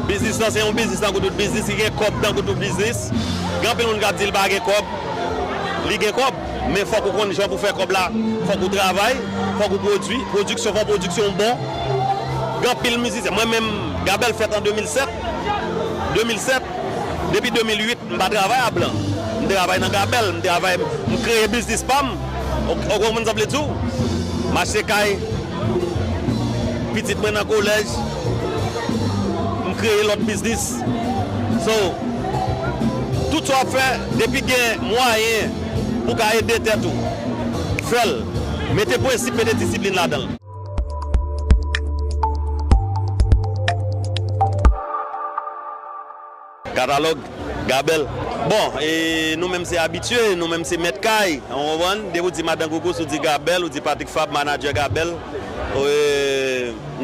Biznis lan se yon biznis tankou tout biznis, li gen kòb tankou tout biznis. Gen anpil moun k ap di li pa gen kòb, li gen kòb, men fòk ou konn jan pou fè kòb la, fòk ou travay, fòk ou pwodui, pwodiksyon, fòk pwodiksyon bon. Gen anpil mizisyen, mwen menm, Gabèl fèt an 2007, 2007, depi 2008 m pa travay a blan, m travay nan Gabèl, m travay, m kreye biznis pa m, ou konprann sa m vle di w? M achte kay. pitit mwen nan kolèj, m kreye lòt biznis. So, tout sa w ap fè, depi gen mwayen pou w ka ede tèt ou, fè l. Mete prensip, mete disiplin ladan l. Katalòg, Gabèl, Bon! E nou menm se abitye, nou menm se mèt kay, ou konprann? Depi w di Madan Koukous, ou di Gabèl, ou di Patrik Fab, manadjè Gabèl,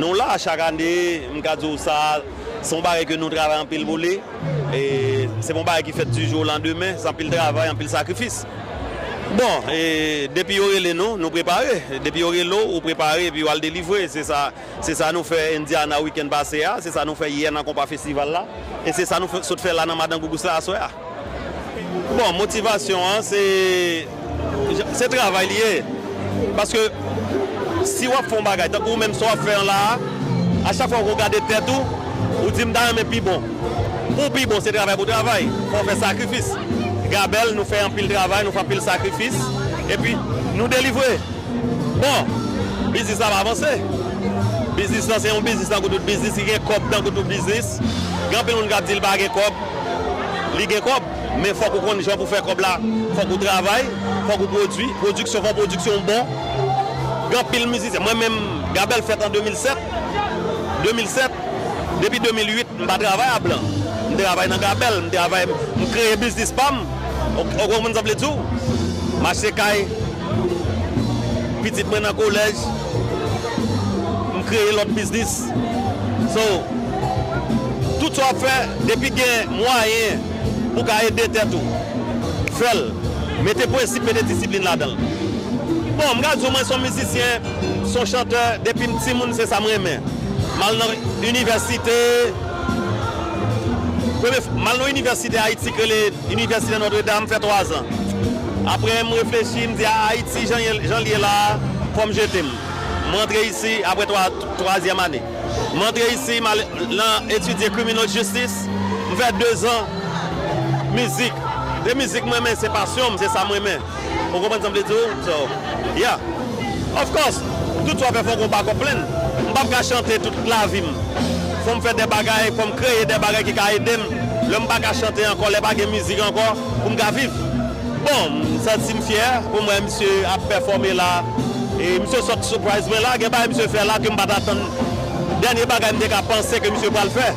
nou la chak ane, m ka di w sa a, se yon bagay ke nou travay anpil pou li. E se pa yon bagay ki fèt di jou o landemen, se anpil travay, anpil sakrifis. Bon! E depi yo rele nou, nou prepare. Depi yo rele w, ou prepare epi ou al delivre. Se sa. Se sa nou fè Indiana wikenn pase a, se sa nou fè yè nan konpa festival la, e se sa nou sot fè la nan Madan Gougous la aswè a. Bon, motivasyon an se, se travay li ye. Paske si w ap fè yon bagay, tankou ou menm sa w ap fè an la a, a chak fwa ou gade tèt ou, ou di m ta renmen pi bon. Pou w pi bon, se travay pou w travay, fò w fè sakrifis. Gabèl, nou fè anpil travay, nou fè anpil sakrifis, epi nou delivre. Bon! Biznis la ap avanse. Biznis lan se yon biznis tankou tout biznis, li gen kòb tankou tout biznis. Gen anpil moun k ap di li pa gen kòb. Li gen kòb, men fòk ou konn jan pou fè kòb la. Fòk ou travay, fòk ou pwodui. Pwodiksyon, fòk pwodiksyon w bon. Gen anpil mizisyen, mwen menm, Gabèl fèt an 2007. 2007, depi 2008, m pa travay a blan. M travay nan Gabèl, m travay, m kreye biznis pa m. Ou konprann sa m vle di w? M achte kay. pitit mwen nan kolèj, m kreye lòt biznis. So, tout sa w ap fè, depi gen mwayen pou w ka ede tèt ou, fè l. Mete prensip, mete disiplin ladan l. Bon, m ka di w mwen se yon mizisyen, m se yon chantè, depi m timoun se sa m renmen. M al nan inivèsite. Premye fwa mal nan inivèsite Ayiti k rele Inivèsite Notre Dame fè twazan. Aprè m reflechi m di a Ayiti jan l ye la a fò m jete m. M rantre isi aprè twazyèm ane. M rantre isi m al nan etidye Criminal Justice. M fè dezan mizik. Se mizik m renmen se pasyon m se sa m renmen. Ou konprann sa m vle di w? So, yeah. Of course, tout swa fè fò w gon backup plan. M pap ka chante tout lavi m. Fò m fè de bagay, fò m kreye de bagay ki ka ede m lè m pa ka chante ankò, lè pa gen mizik ankò pou m ka viv. Bon, m santi m fyè pou m wè misye ap pèfòme la. E misye sot surprise mwen la. Gen bagay misye fè la ke m pa t atann. Dènye bagay m te ka panse ke misye pral fè.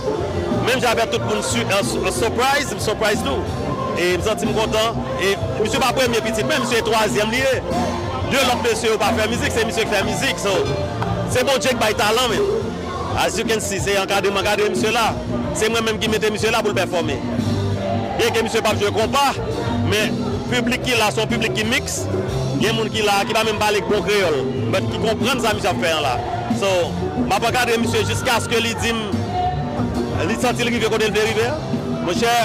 Menm jan avèk tout moun su, surprise, m surprise tou. E m santi m kontan. E misye pa premye pitit mwen misye twazyèm li ye de lòt mesye yo pa fè mizik se misye ki fè mizik so se Bondye ki bay talan men as you can see se ankadreman gade misye la se mwen menm ki mete misye la pou l pèfòme byen ke misye pap jwe konpa men piblik ki la se yon piblik ki mix gen moun ki la ki pa menm pale bon kreyòl but ki konprann sa misye ap fè an la so m ap ankadre misye jiskaske li di m li santi l rive kote l vle rive a monchè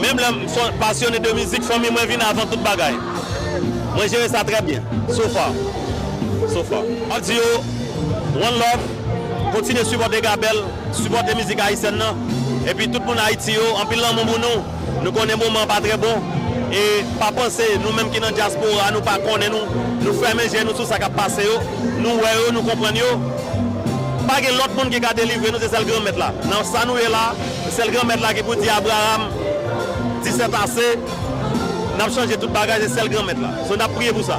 menm lè m. Son passionné de musique fanmi mwen vin avan tout bagay mwen jere sa trè byen so far so far. Map di yo one love kontinye sipòte Gabel sipòte mizik ayisyèn nan epi tout moun ayiti yo anpil lanmou pou nou nou konnen moman an pa trè bon e pa panse nou menm ki nan dyaspora nou pa konnen nou nou fèmen je nou sou sa kap pase yo nou wè yo nou konprann yo pa gen lòt moun ki ka delivre nou se sèl granmèt la nan sa nou ye la. Sèl Granmèt la ki pou di Abraram, Di sèt ase, n ap chanje tout bagay, se sèl Granmèt la. So n ap priye pou sa.